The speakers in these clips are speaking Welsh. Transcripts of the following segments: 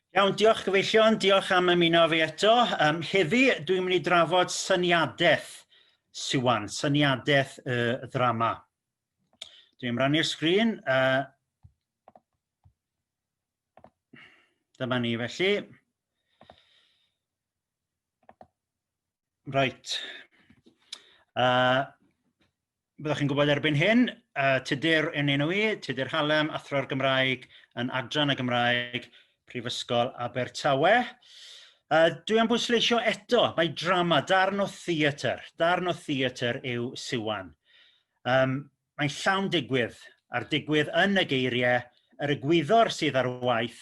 Iawn, diolch gyfeillion, diolch am ymuno fi eto. Um, heddi dwi'n mynd i drafod syniadaeth Siwan, syniadaeth y uh, ddrama. Dwi'n rannu'r sgrin. Uh, dyma ni felly. Right. Uh, byddwch chi'n gwybod erbyn hyn, uh, Tudur yn enw i, Tudur Hallam, athro'r Gymraeg yn Adran y Gymraeg, Prifysgol Abertawe. Uh, dwi am bwysleisio eto, mae drama, darn o theatr, darn o theatr yw Siwan. Um, mae'n llawn digwydd, a'r digwydd yn y geiriau, yr egwyddor sydd ar waith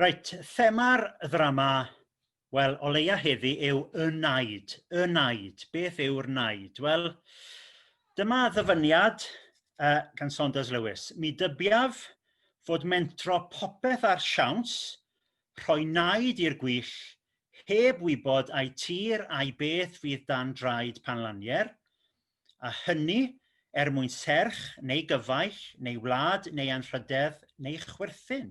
Reit thema'r ddrama wel o leia' heddi yw y naid y naid beth yw'r naid wel dyma ddyfyniad yy gan Saunders Lewis "mi dybiaf fod mentro popeth â'r siawns rhoi naid i'r gwyll heb wybod ai tir ai beth fydd dan draed Panlanier a hynny er mwyn serch neu gyfaill neu wlad neu anrhydedd neu chwerthin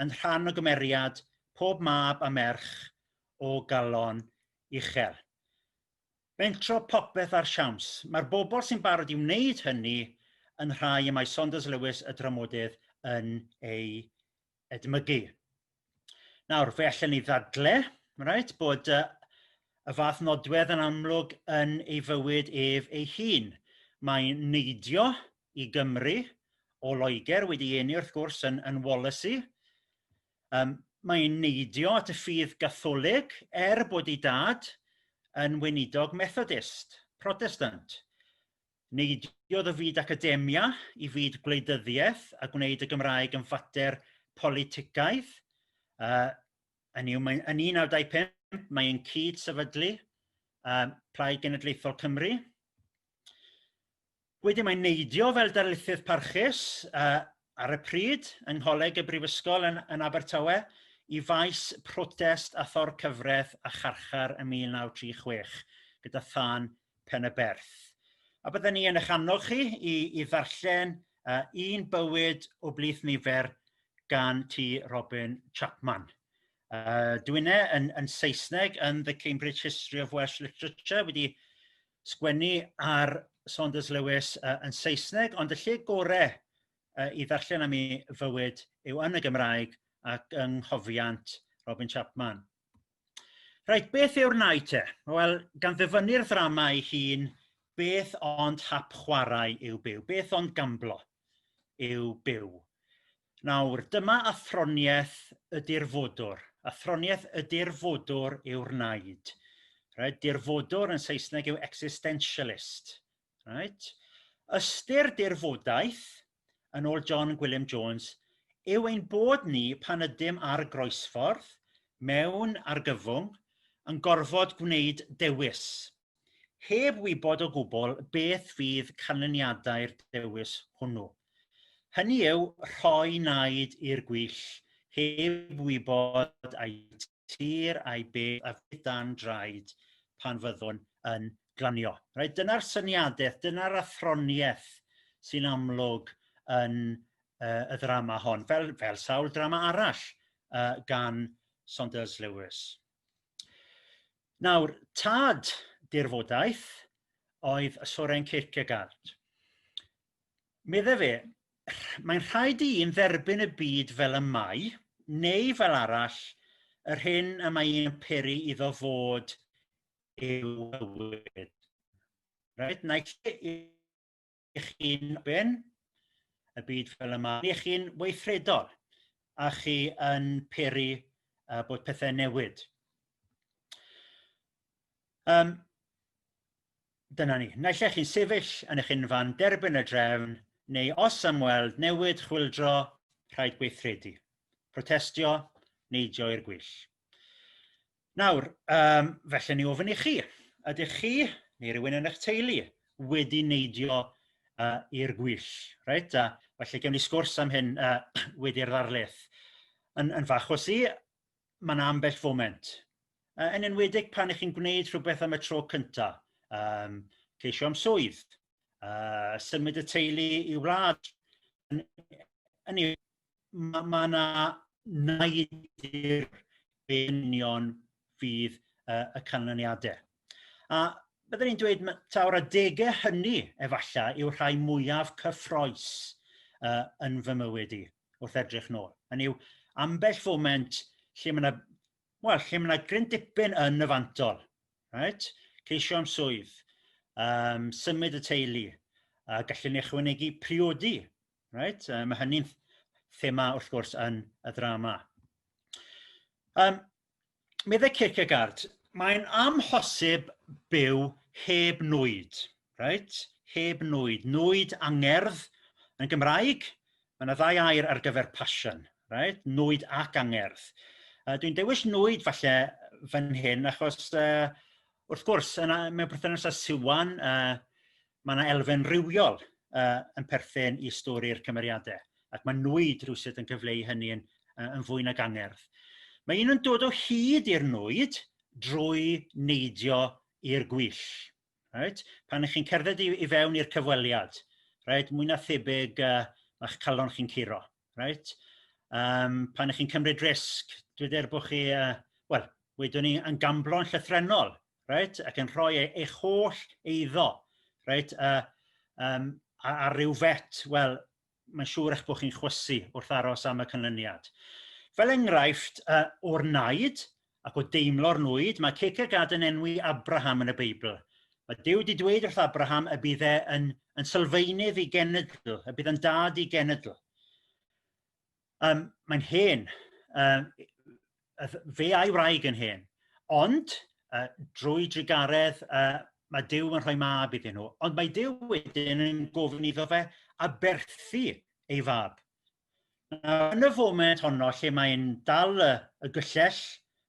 yn rhan o gymeriad pob mab a merch o galon uchel. Mentro popeth ar siawns. Mae'r bobl sy'n barod i wneud hynny yn rhai y mae Saunders Lewis y dramodydd yn eu edmygu. Nawr fe allen ni ddadle reit bod y y fath nodwedd yn amlwg yn ei fywyd ef ei hun. Mae'n neidio i Gymru o Loeger wedi ei eni wrth gwrs yn yn Wallasey yym mae'n neidio at y ffydd Gatholig er bod ei dad yn weinidog Methodist Protestant neidiodd o fyd academia i fyd gwleidyddiaeth a gwneud y Gymraeg yn fater politicaidd yy hynny yw mae yn 1995 mae e'n cyd sefydlu yy Plaid Genedlaethol Cymru wedyn mae'n neidio fel darlithydd parchus yy ar y pryd yng Ngholeg y Brifysgol yn, yn Abertawe i faes protest a thorcyfreth a charchar ym 1936 gyda thân Pen-y-berth a bydden ni yn eich annog chi i i ddarllen yy Un bywyd o blith nifer gan T Robin Chapman. Uh, dwi'n e yn, yn Saesneg yn The Cambridge History of Welsh Literature wedi sgwennu ar Saunders Lewis uh, yn Saesneg ond y lle gore uh, i ddarllen am ei fywyd yw yn y Gymraeg ac yng nghofiant Robin Chapman. Reit beth yw'r nai te? Wel gan ddyfynnu'r ddrama ei hun beth ond hap chwarae yw byw beth ond gamblo yw byw. Nawr dyma athroniaeth y dirfodwr athroniaeth y dirfodwr yw'r naid reit dirfodwr yn Saesneg yw existentialist reit ystyr dirfodaeth yn ôl John Gwilym Jones yw ein bod ni pan ydym ar groesffordd mewn argyfwng yn gorfod gwneud dewis heb wybod o gwbl beth fydd canlyniadau'r dewis hwnnw hynny yw rhoi naid i'r gwyll heb wybod ai tir ai beth a fydd dan draed pan fyddwn yn glanio. Reit dyna'r syniadeth dyna'r athronieth sy'n amlwg yn uh, y ddrama hon fel, fel sawl drama arall uh, gan Saunders Lewis. Nawr tad dirfodaeth oedd Soren Kierkegaard. medde fe mae'n rhaid i un dderbyn y byd fel y mae neu fel arall yr hyn y mae ei peri iddo fod yw bywyd. Reit naill i chi ben y byd fel y mae neu chi'n weithredol a chi yn peri uh, bod pethau newid. Um, dyna ni. Naill ai chi'n sefyll yn eich unfan derbyn y drefn neu os am weld newid chwyldro rhaid gweithredu, protestio, neidio i'r gwyll. Nawr, um, felly ni ofyn i chi, ydych chi neu rhywun yn eich teulu wedi neidio uh, i'r gwyll? Reit, a felly gewn ni sgwrs am hyn uh, wedi'r ddarlith. Yn, yn fach o si, ma' 'na ambell foment yy yn enwedig pan 'ych chi'n gwneud rhywbeth am y tro cynta' yym ceisio am swydd yy symud y teulu i wlad hynny yw ma' ma' 'na naid i'r union fydd yy y canlyniade a byddwn i'n dweud taw'r adege hynny efalla' yw'r rhai mwyaf cyffrous yy yn fy mywyd i. wrth edrych nôl hynny yw ambell foment lle ma' 'na wel lle ma' 'na gryn dipyn yn y fantol reit ceisio am swydd yym symud y teulu a gallwn ni ychwanegu priodi reit yy ma' hynny'n thema wrth gwrs yn y ddrama. Yym meddai Kierkegaard mae'n amhosib byw heb nwyd reit heb nwyd, nwyd angerdd yn Gymraeg mae yna ddau air ar gyfer passion reit nwyd ac angerdd a dwi'n dewis nwyd falle fan hyn achos yy wrth gwrs yna mewn perthynas â Siwan yy ma' 'na elfen rywiol yy yn perthyn i stori'r cymeriade ac ma' nwyd rywsut yn cyfleu hynny yn yy yn fwy nag angerdd. Mae un yn dod o hyd i'r nwyd drwy neidio i'r gwyll reit pan 'ych chi'n cerdded i i fewn i'r cyfweliad reit mwy na thebyg yy ma'ch calon chi'n curo. reit yym pan 'da chi'n cymryd risg dwi dwed bo' chi yy wel wedwn ni yn gamblo'n llythrennol reit ac yn rhoi ei eich holl eiddo reit yy yym ar ryw fet wel mae'n siŵr eich bo' chi'n chwysu wrth aros am y canlyniad. Fel engraifft yy o'r naid ac o deimlo'r nwyd mae Cierkegaard yn enwi Abraham yn y Beibl ma' Duw 'di dweud wrth Abraham y bydd e yn yn sylfaenydd i genedl y bydd yn dad i genedl um, mae'n hen um, fe a'i wraig yn hen ond uh, drwy drugaredd uh, mae Dyw yn rhoi mab iddyn nhw ond mae Dyw wedyn yn gofyn iddo fe aberthu ei fab Nawr yn y foment honno lle mae'n dal y y gyllell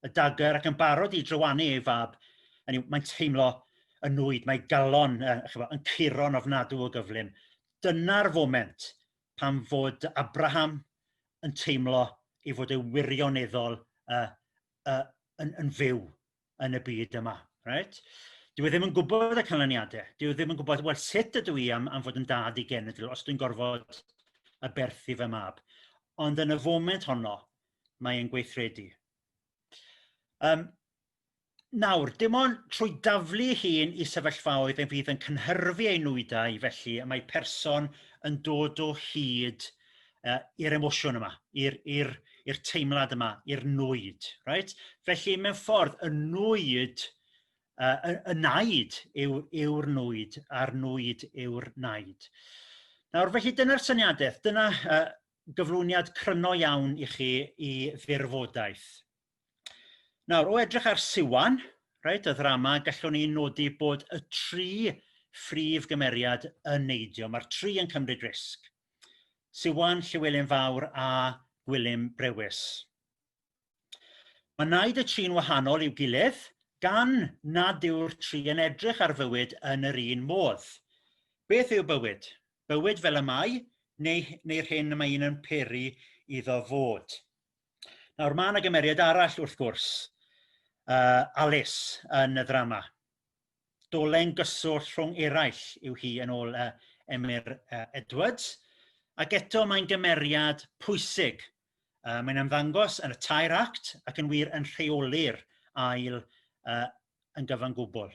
y dagger ac yn barod i drywanu ei fab hynny yw mae'n teimlo y nwyd mae galon yy ch'bo' yn curo'n ofnadw o gyflym dyna'r foment pan fod Abraham yn teimlo ei fod e wirioneddol yy yy yn yn fyw yn y byd yma reit dyw e ddim yn gwbod y canlyniade dyw e ddim yn gwbod wel sut ydw i am am fod yn dad i genedl os dwi'n gorfod aberthu fy mab ond yn y foment honno mae e'n gweithredu. Um, Nawr, dim ond trwy daflu hun i sefyllfaoedd y fydd yn cynhyrfu ei nwyddau felly y mae person yn dod o hyd yy i'r emosiwn yma i'r i'r i'r teimlad yma i'r nwyd reit felly mewn ffordd y nwyd yy y naid yw yw'r nwyd a'r nwyd yw'r naid. Nawr felly dyna'r syniadeth dyna yy gyflwyniad cryno iawn i chi i fyrfodaeth. Nawr o edrych ar Siwan reit y ddrama gallwn ni nodi bod y tri phrif gymeriad yn neidio mae'r tri yn cymryd risg Siwan, Llywelyn Fawr a Gwilym Brewis. Mae naid y tri'n wahanol i'w gilydd gan nad yw'r tri yn edrych ar fywyd yn yr un modd. Beth yw bywyd? Bywyd fel y mae neu, neu'r hyn y mae un yn peri iddo fod. Nawr mae yna gymeriad arall wrth gwrs, uh, Alice yn y ddrama. dolen gyswllt rhwng eraill yw hi yn ôl yy Emyr yy Edwards ac eto mae'n gymeriad pwysig yy mae'n ymddangos yn y tair act ac yn wir yn rheoli'r ail yy yn gyfan gwbl.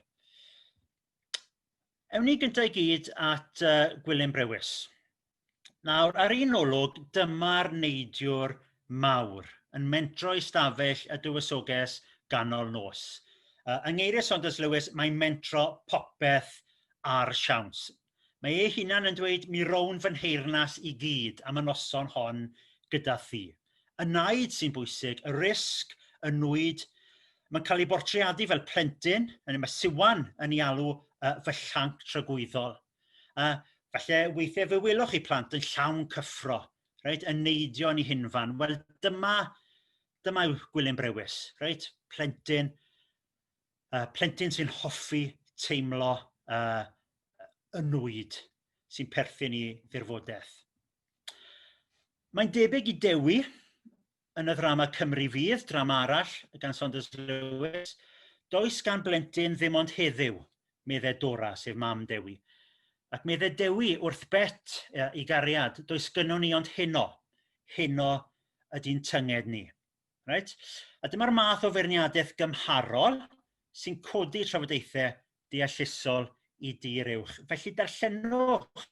Ewn ni gynta' i gyd at yy Gwilym Brewis. Nawr ar un olwg dyma'r neidiwr mawr yn mentro i stafell y dywysoges ganol nos. Uh, yng ngeiriau Saunders Lewis mae'n mentro popeth ar siawns. Mae ei hunan yn dweud mi rown fy nheyrnas i gyd am y noson hon gyda thi. Y naid sy'n bwysig, y risg, y nwyd, mae'n cael ei bortreadu fel plentyn, yn y mae Siwan yn ei alw uh, fy llanc tragwyddol. A falle weithie fe welwch chi plant yn llawn cyffro reit yn neidio yn i hunfan wel dyma dyma yw Gwilym Brewis reit plentyn yy plentyn sy'n hoffi teimlo yy yn nwyd sy'n perthyn i ddirfodeth. Mae'n debyg i Dewi yn y ddrama Cymru Fydd drama arall gan Saunders Lewis Does gan blentyn ddim ond heddyw medde Dora sef mam Dewi ac medde Dewi wrth Bet i gariad does gynno ni ond heno heno ydy'n tynged ni. Reit a dyma'r math o feirniadaeth gymharol sy'n codi trafodaethau deallusol i dir uwch felly darllenwch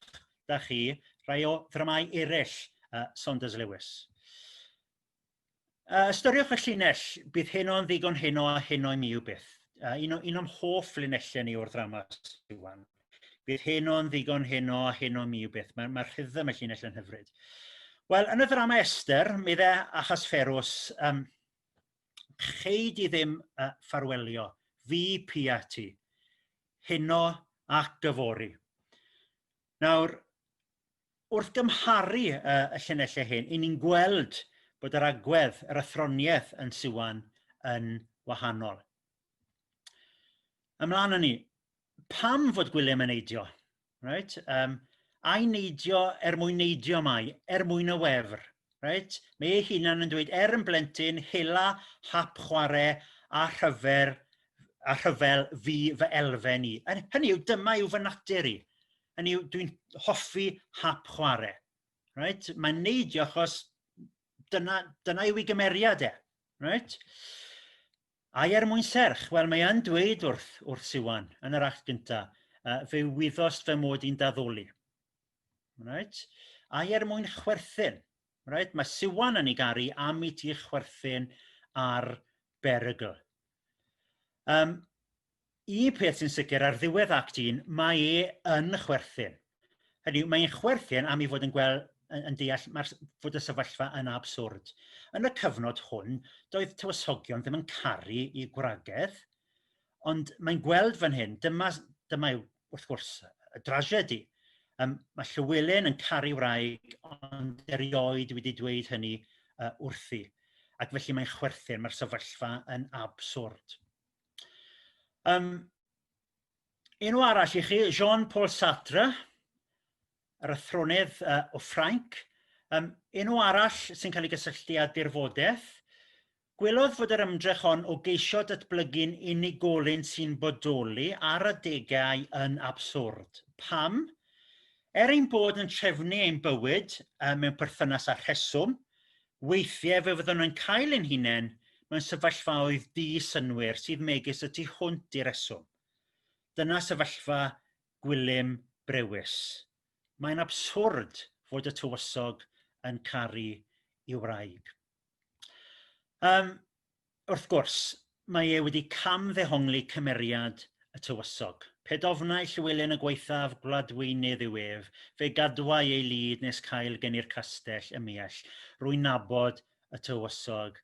'da chi rai o ddramâu erill yy Saunders Lewis. Yy ystyriwch y llinell bydd heno yn ddigon heno a heno i mi yw byth yy un o un o'm hoff linellau ni o'r ddrama Siwan bydd heno yn ddigon heno a heno mi yw byth mae'r ma rhythm y llinell yn hyfryd. Wel yn y ddrama Esther mi dde Achasferws yym chei di ddim yy ffarwelio fi pia ti heno ac yfory. Nawr wrth gymharu y, y llinellau hyn i ni'n gweld bod yr agwedd yr athroniaeth yn Siwan yn wahanol. Ymlaen â ni. Pam fod Gwilym yn eidio? reit yym ai neidio er mwyn neidio mai er mwyn y wefr reit mae ei hunan yn dweud er yn blentyn hela hap chware a rhyfer a rhyfel fu fy elfen i hynny yw dyma yw fy natur i hynny yw dwi'n hoffi hap chware reit mae'n neidio achos dyna dyna yw i gymeriad e reit. Ai er mwyn serch? Wel mae e'n dweud wrth wrth Siwan yn yr act gynta' yy fe wyddost fy mod i'n daddoli. Reit ai er mwyn chwerthin? Reit ma' Siwan yn ei garu am i ti chwerthin ar berygl. Yym un peth sy'n sicr ar ddiwedd act un mae e yn chwerthin hynny yw mae e'n chwerthin am ei fod yn gweld yn yn deall ma'r fod y sefyllfa yn abswrd. Yn y cyfnod hwn doedd tywysogion ddim yn caru i gwragedd ond mae'n gweld fan hyn dyma dyma yw wrth gwrs y drasiedi um, mae Llywelyn yn caru wraig ond erioed wedi dweud hynny uh, wrthi ac felly mae'n chwerthin mae'r sefyllfa yn abswrd. Yym enw arall i chi Jean Paul Sartre yr athronydd yy o Ffrainc yym enw arall sy'n ca'l ei gysylltu â dirfodeth gwelodd fod yr ymdrech hon o geisio datblygu'n unigolyn sy'n bodoli ar adegau yn abswrd. Pam? Er ein bod yn trefnu ein bywyd yy mewn perthynas â rheswm weithie fe fyddwn yn cael ein hunen mewn sefyllfaoedd di-synnwyr sydd megis y tu hwnt i reswm dyna sefyllfa Gwilym Brewis mae'n abswrd fod y tywysog yn caru i wraig. Yym wrth gwrs mae e wedi cam ddehongli cymeriad y tywysog. Pe dofnai Llywelyn y gwaethaf gwladweinydd yw ef, fe gadwai ei lid nes cael gen i'r castell ymhell. Rwy'n nabod y tywysog,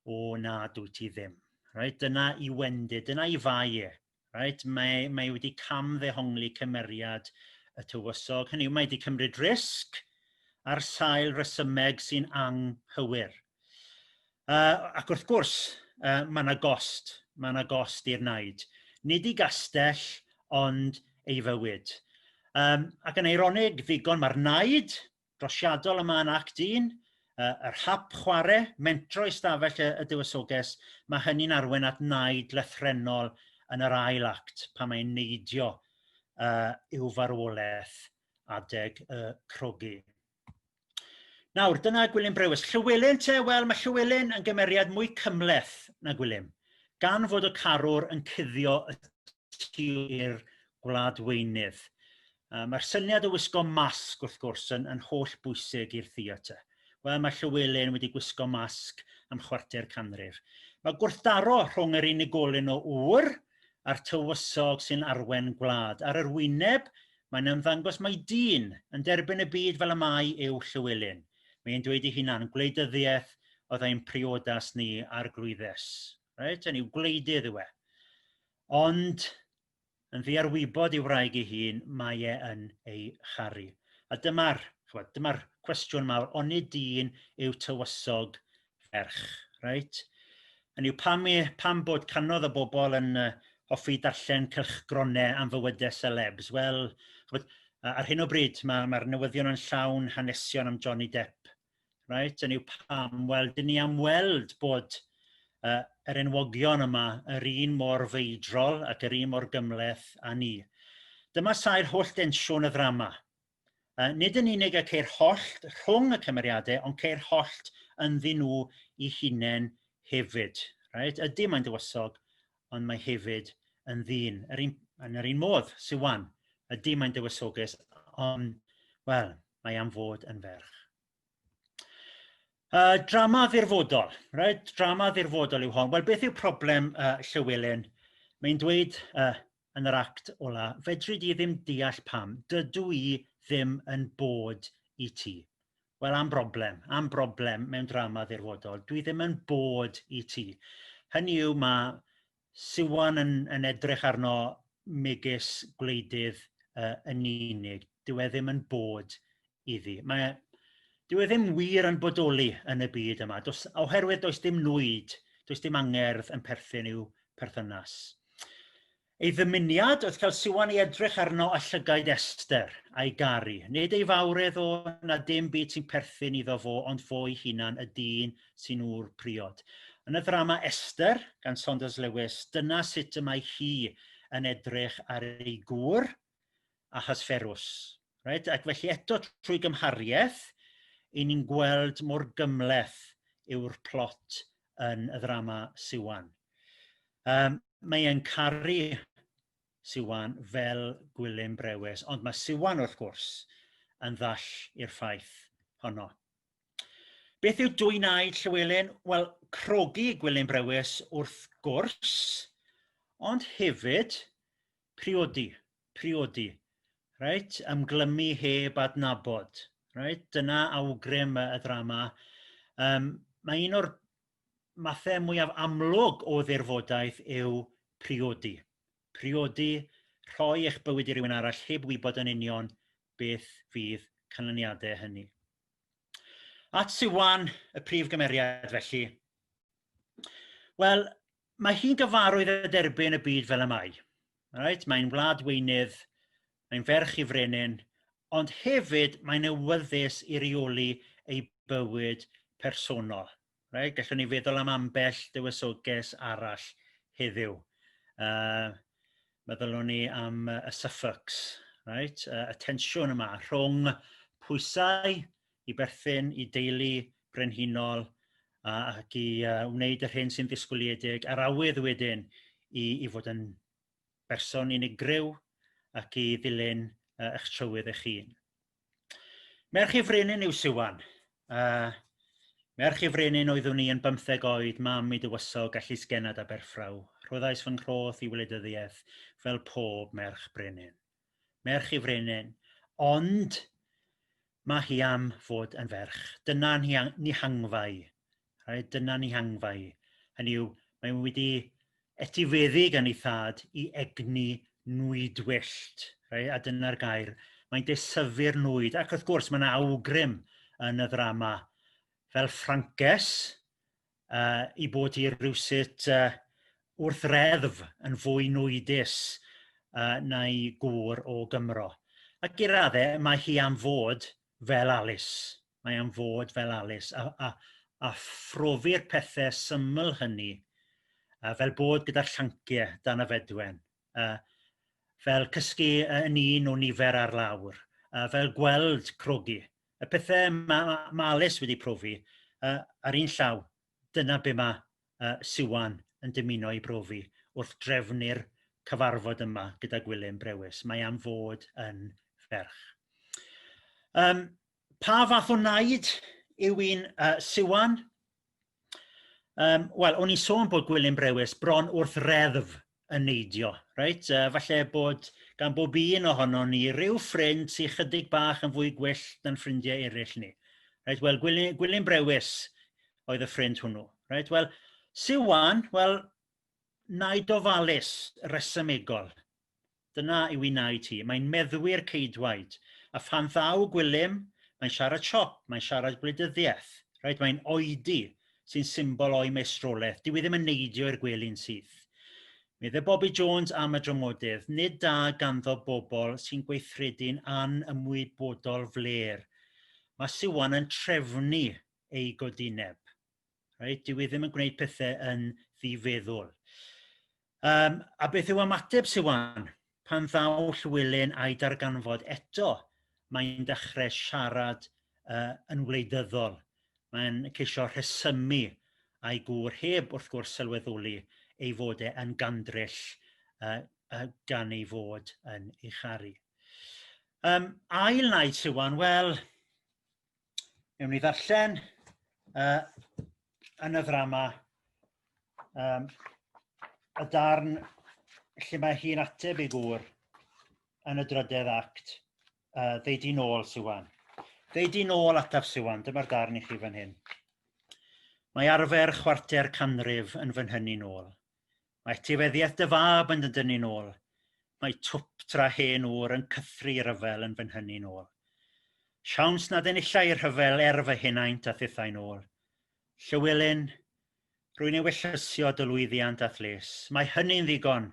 o na dwyt ti ddim. Reit, dyna i wendid, dyna i fai e. reit mae mae wedi cam ddehongli cymeriad y tywysog hynny yw mae 'di cymryd risg ar sail resymeg sy'n anghywir yy ac wrth gwrs yy ma' 'na gost ma' 'na gost i'r naid nid i gastell ond ei fywyd yym ac yn eironig ddigon ma'r naid drosiadol yma yn Act un yy yr hap chware mentro i stafell y y Dywysoges ma' hynny'n arwen at naid lythrennol yn yr ail act pan mae'n neidio yy i'w farwolaeth adeg y crogi. Nawr dyna Gwilym Brewis. Llywelyn te wel mae Llywelyn yn gymeriad mwy cymleth na Gwilym gan fod y carwr yn cuddio y rescue i'r gwlad weinydd. Yy mae'r syniad o wisgo masg wrth gwrs yn yn holl bwysig i'r theatr. Wel mae Llywelyn wedi gwisgo masg am chwarter canrif. Mae gwrthdaro rhwng yr unigolyn o ŵyr a'r tywysog sy'n arwen gwlad. Ar yr wyneb mae'n ymddangos mai dyn yn derbyn y byd fel y mae yw Llywelyn. Mae'n dweud ei hunan, gwleidyddiaeth oedd ein priodas ni, arglwyddes. Reit, hynny yw gwleidydd yw e. ond yn ddi ar wybod ei wraig ei hun mae e yn ei charu a dyma'r ch'mod dyma'r cwestiwn mawr onid dyn yw tywysog ferch reit hynny yw pam i pam bod canodd y bobol yn yy hoffi darllen cylchgrone am fywyde selebs wel ch'mod ar hyn o bryd ma' ma'r newyddion yn llawn hanesion am Johnny Depp reit hynny yw pam wel dyn ni am weld bod yy yr enwogion yma yr un mor feidrol ac yr un mor gymhleth a ni. Dyma sail holl densiwn y ddrama yy nid yn unig y ceir hollt rhwng y cymeriade ond ceir hollt ynddyn nhw i hunen hefyd reit ydy mae'n dywysog ond mae hefyd yn ddyn yr un yn yr un modd Siwan ydi mae'n dywysoges ond wel mae am fod yn ferch. Uh, drama ddirfodol, right? drama ddirfodol yw hon. Wel beth yw problem uh, Llywelyn? Mae'n dweud uh, yn yr act ola, fedri di ddim deall pam, dydw i ddim yn bod i ti. wel am broblem am broblem mewn drama ddirfodol dwi ddim yn bod i ti hynny yw ma' Siwan yn yn edrych arno megis gwleidydd yy yn unig dyw e ddim yn bod iddi mae e dyw e ddim wir yn bodoli yn y byd yma dos oherwydd does dim nwyd does dim angerdd yn perthyn i'w perthynas. Ei ddymuniad oedd cael Siwan i edrych arno a llygaid Esther a'i garu. Nid ei fawredd o na dim byd sy'n perthyn iddo fo ond fo'i hunan y dyn sy'n ŵr priod. Yn y ddrama Esther gan Saunders Lewis dyna sut y mae hi yn edrych ar ei gŵr a Hysferws reit ac felly eto trwy gymhariaeth i ni'n gweld mor gymhleth yw'r plot yn y ddrama Siwan. Yym mae e'n caru Siwan fel Gwilym Brewis ond mae Siwan wrth gwrs yn ddall i'r ffaith honno. Beth yw dwy'n aed Llywelyn? Wel crogi Gwilym Brewis wrth gwrs ond hefyd Priodi, priodi. Reit, ymglymu heb adnabod. Reit dyna awgrym y ddrama yym mae un o'r mathe mwyaf amlwg o ddirfodaeth yw priodi. Priodi rhoi eich bywyd i rywun arall heb wybod yn union beth fydd canlyniadau hynny. At Siwan, y prif gymeriad felly. Wel, mae hi'n gyfarwydd â derbyn y byd fel y mae reit mae'n wlad weinydd mae'n ferch i frenin ond hefyd mae'n awyddus i reoli ei bywyd personol reit gellwn ni feddwl am ambell dywysoges arall heddyw yy meddyliwn ni am y Suffolks reit y tensiwn yma rhwng pwysau i berthyn i deulu brenhinol a ac i yy wneud yr hyn sy'n ddisgwyliedig a'r awydd wedyn i i fod yn berson unigryw ac i ddilyn yy eich trywydd eich hun. Merch ei frenin yw Siwan. Uh, merch ei frenin oeddwn i yn bymtheg oed, mam i dywysog a llysgennad Aberffraw. Rhoddais fy nghroth i wleidyddiaeth fel pob merch brenin. merch ei frenin ond ma' hi am fod yn ferch dyna ni ang- ni hangfa i reit dyna ni hangfa i hynny yw mae e wedi etifeddu gan ei thad i egni nwyd wyllt rei- a dyna'r gair mae'n desyfu'r nwyd ac wrth gwrs ma' 'na awgrym yn y ddrama fel Ffrances yy i bod hi rywsut yy wrth reddf yn fwy nwydus yy na'i gŵr o Gymro ac i radde mae hi am fod fel Alys mae am fod fel Alys a a a phrofi'r pethe syml hynny yy fel bod gyda llanciau dan y fedwen. yy fel cysgu yn un o nifer ar lawr yy fel gweld crogi y pethe ma' ma' Alys wedi profi yy ar un llaw dyna be' ma' yy Siwan yn dymuno i brofi wrth drefnu'r cyfarfod yma gyda Gwilym Brewis mae am fod yn ferch. Yym pa fath o naid yw un yy Siwan? Yym wel oni'n sôn bod Gwilym Brewis bron wrth reddf yn neidio reit yy falle bod gan bob un ohonon ni ryw ffrind sy 'chydig bach yn fwy gwyllt na'n ffrindiau erill ni reit wel Gwili- Gwilym Brewis oedd y ffrind hwnnw reit wel Siwan wel naid ofalus resymegol dyna yw ei naid hi mae'n meddwi'r ceidwaid a phan ddaw Gwilym mae'n siarad siop mae'n siarad gwleidyddiaeth reit mae'n oedi sy'n symbol o'i maestroleth dyw hi ddim yn neidio i'r gwely'n syth Medde Bobi Jones am y dramodydd, nid da ganddo bobl sy'n gweithredu'n anymwybodol flêr. Mae Siwan yn trefnu ei godineb. reit dyw e ddim yn gwneud pethe yn ddi feddwl yym a beth yw ymateb Siwan pan ddaw Llywelyn a'i darganfod eto mae'n dechre siarad yy yn wleidyddol mae'n ceisio rhesymu a'i gŵr heb wrth gwrs sylweddoli ei fod e yn gandryll yy yy gan ei fod yn ei charu. Yym ail naid Siwan wel newn ni ddarllen uh, yn y ddrama um, y darn lle mae hi'n ateb ei gŵr yn y drydedd act uh, They Di Nôl Siwan. They Di Nôl ataf Siwan, dyma'r darn i chi fan hyn. Mae arfer chwarter canrif yn fy nhynnu nôl. Mae etifeddiaeth dy fab yn dy dynnu'n ôl Mae twp tra hen ŵr yn cythru i ryfel yn fy nhynnu'n ôl Siawns nad enilla i rhyfel er fy henaint a thithau'n ôl Llywelyn, rwy'n ewyllysio dy lwyddiant a'th les Mae hynny'n ddigon,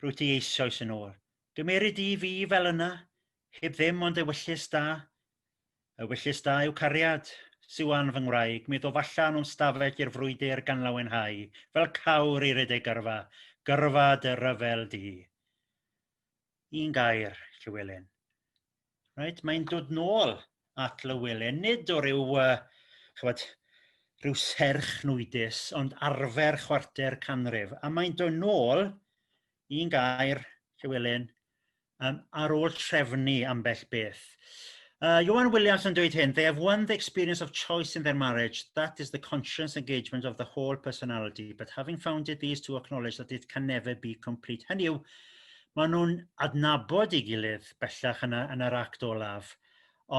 rwyt ti eisoes yn ôl Gymeri di fi fel yna, heb ddim ond ewyllys da Y wyllys da yw cariad. Siwan fy ngwraig mi ddof allan o'n stafell i'r frwydr gan lawenhau fel cawr i redeg gyrfa, gyrfa dy ryfel di. Un gair, Llywelyn. Reit, mae'n dod nôl at Lywelyn, nid o ryw uh, chybod, rhyw serch nwydus, ond arfer chwarter canrif, a mae'n dod nôl, un gair, Llywelyn, yym ar ôl trefnu ambell beth yy Ieuan Wiliams yn dweud hyn they have won the experience of choice in their marriage that is the conscious engagement of the whole personality but having found it these two acknowledge that it can never be complete hynny yw ma' n'w'n adnabod ei gilydd bellach yn y yn yr act olaf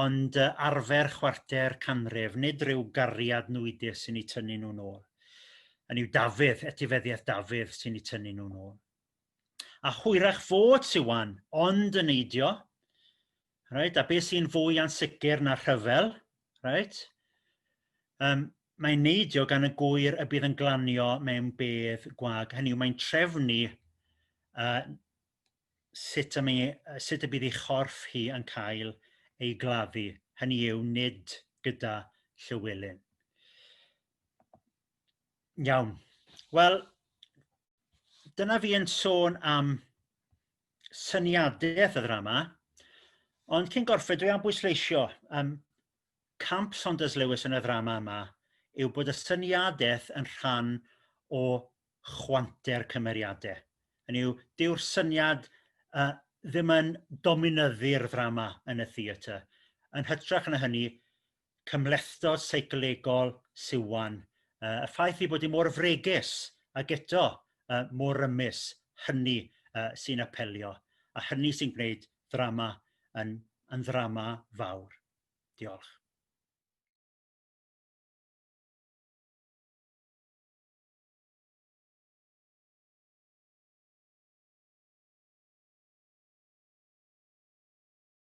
ond yy arfer chwarter canrif nid rhyw gariad nwydus sy'n i tynnu n'w nôl hynny yw Dafydd etifeddiaeth Dafydd sy'n i tynnu n'w nôl. a hwyrach fod Siwan ond yn neidio reit a be sy'n fwy ansicir na rhyfel reit yym mae'n neidio gan y gŵyr y bydd yn glanio mewn bedd gwag hynny yw mae'n trefnu yy sut y mi sut y bydd ei chorff hi yn cael ei gladdu hynny yw nid gyda Llywelyn. Iawn wel dyna fi yn sôn am syniadaeth y ddrama ond cyn gorffen dwi am bwysleisio yym camp Saunders Lewis yn y ddrama yma yw bod y syniadaeth yn rhan o chwanter cymeriade hynny yw dyw'r syniad yy ddim yn dominyddu'r ddrama yn y theatr yn hytrach na hynny cymhlethdod seicolegol Siwan yy y ffaith ei bod hi mor fregus ag eto yy mor rymus hynny yy sy'n apelio a hynny sy'n gwneud ddrama yn yn ddrama fawr. Diolch.